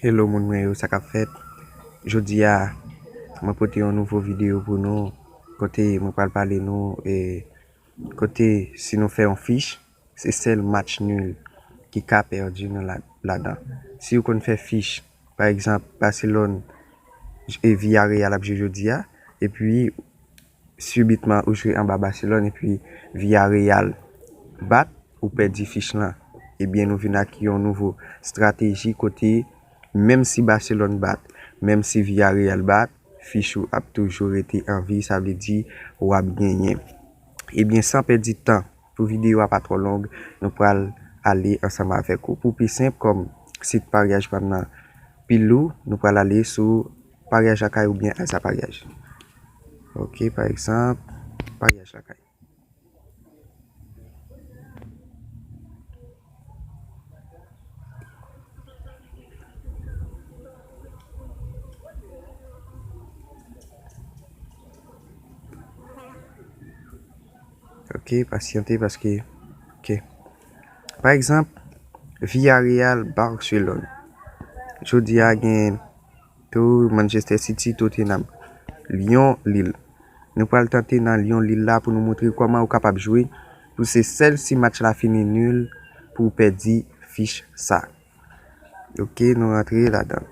Hello moun mwen yo sa kap fèt jodi a mwen pote yon nouvo video pou nou kote mwen pral pale nou e kote si nou fè yon fich se sèl match nul ki ka pèdi nan ladan si ou konn fè fich pa egzanp Barcelone e Villarreal ap jwe jodi a epi Subitement ou jwe anba Barcelone epi Villarreal bat ou pèdi fich lan. Ebyen nou vin ak yon nouvo strateji kote menm si Barcelone bat, menm si Villarreal bat, fich ou ap toujou rete an vi sa vle di wap genyen. Ebyen san pèdi tan pou videyo a pa twò long nou pral ale ansanm avèk ou pou pi senp kòm sit paryaj pam nan pi lou nou pral ale sou. Paryaj lakay ou byen alsa paryaj. Ok pa egzanp paryaj lakay. Ok pasyante paske ok. Pa egzanp Villareal Barcelone. Jodi a gen. Tou, Manchester City, Tottenham. Lyon, Lille. Nou pral tante nan Lyon, Lille la pou nou montre kòman ou kapab jwe pou se sèl si match la fini nul pou ou pèdi fich sa. Ok, nou rantre ladan.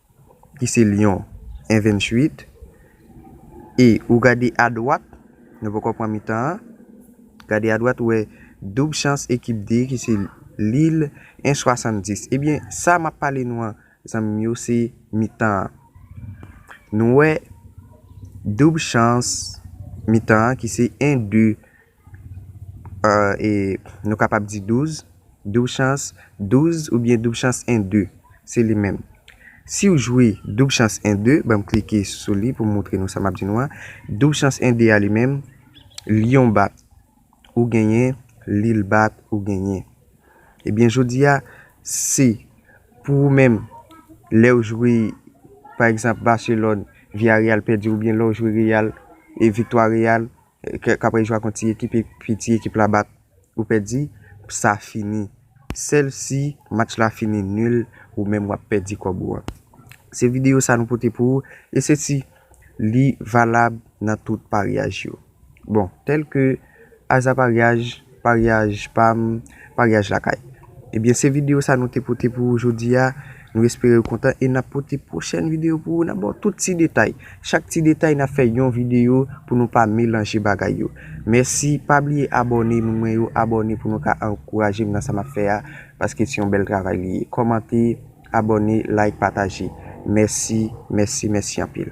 ki se Lyon en 28 e ou gade adwat nou poko pran mitan an gade adwat ou wè doub chans ekip 2 ki se Lille en 70 ebyen sa map pale nou an zanmi m yo se mitan an nou wè doub chans mitan an ki se en 2 e nou kapab di douz, doub chans, douz oubyen doub chans 1 2 se li menm siw jwe doub chans 1 2 banm klike sou li poum moutre nou sa map di nou an doub chans 1 2 a li menm lyon bat ou genyen lil bat ou genyen ebyen jodi a si pou ou menm lèw jwe pa egzanp baselòn viyaryal pèdi oubyen lèw jwe reyal e viktwa reyal. Kaprè jwa kont ti ekip epi ti ekip la bat ou pèdi, sa fini. Sèl si match la fini nul ou menm wap pèdi kòb ou an. Se videyo sa nou pote pou ou e se si li valab nan tout paryaj yo. Bon, tèlke aza paryaj. Paryaj pam, paryaj lakay. Ebyen se video sa nou te pote pou ou jodi a, nou espere ou kontan e nap pote pwochèn video pou ou nap baw tout ti detay, chak ti detay nap fè yon video pou nou pa melanje bagay yo. Mèsi, pa bliye abòne moun mwen yo, abòne pou nou ka ankourajem nan sa map fè a, paske se yon bèl travay li ye. Kòmante, abòne, like, pataje. Mèsi, mèsi, mèsi anpil.